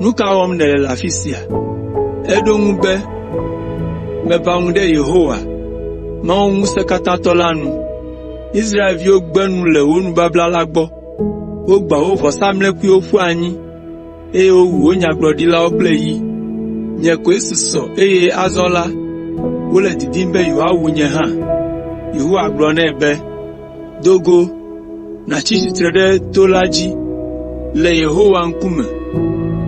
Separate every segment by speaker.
Speaker 1: “Nu ka wɔm nèle le afi sia?” Eɖo eŋu be, “Meʋã ŋu ɖe Yehowa, Mawu Ŋusẽkatãtɔ la nu. Israelviwo gbe nu le wò nubabla la gbɔ. Wogbã wò vɔsamlekpuiwo ƒu anyi, eye wowu wò nyagblɔɖilawo kple yi. Nye koe susɔ eye azɔ la, wole didim be yewoawu nye hã.” Yehowa gblɔ nɛ be, “Do go nàtsi tsitre ɖe to la dzi le Yehowa ŋkume,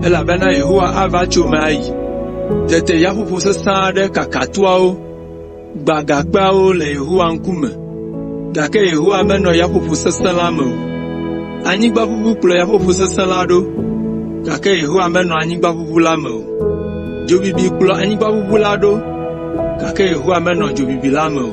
Speaker 1: elabena Yehowa ava tso eme ayi.” Tete yaƒoƒo sesẽ aɖe kaka toawo gbã gakpeawo le Yehowa ŋkume. Gake Yehowa menɔ yaƒoƒo sesẽ la me o. Anyigba ʋuʋu kplɔ yaƒoƒo sesẽ la ɖo, gake Yehowa menɔ anyigba ʋuʋu la me o. Dzo bibi kplɔ anyigba ʋuʋu la ɖo, gake Yehowa menɔ dzo bibi la me o.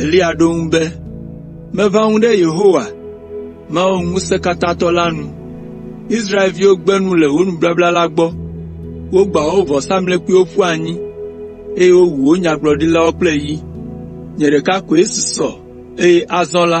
Speaker 1: Eliya ɖo eŋu be, “Meʋã nu ɖe Yehowa, Mawu Ŋusẽkatãtɔ la nu. Israelviwo gbe nu le wò nubabla la gbɔ. Wogbã wò vɔsamlekpuiwo ƒu anyi, eye wowu wò nyagblɔɖilawo kple yi. Nye ɖeka koe susɔ, eye azɔ la,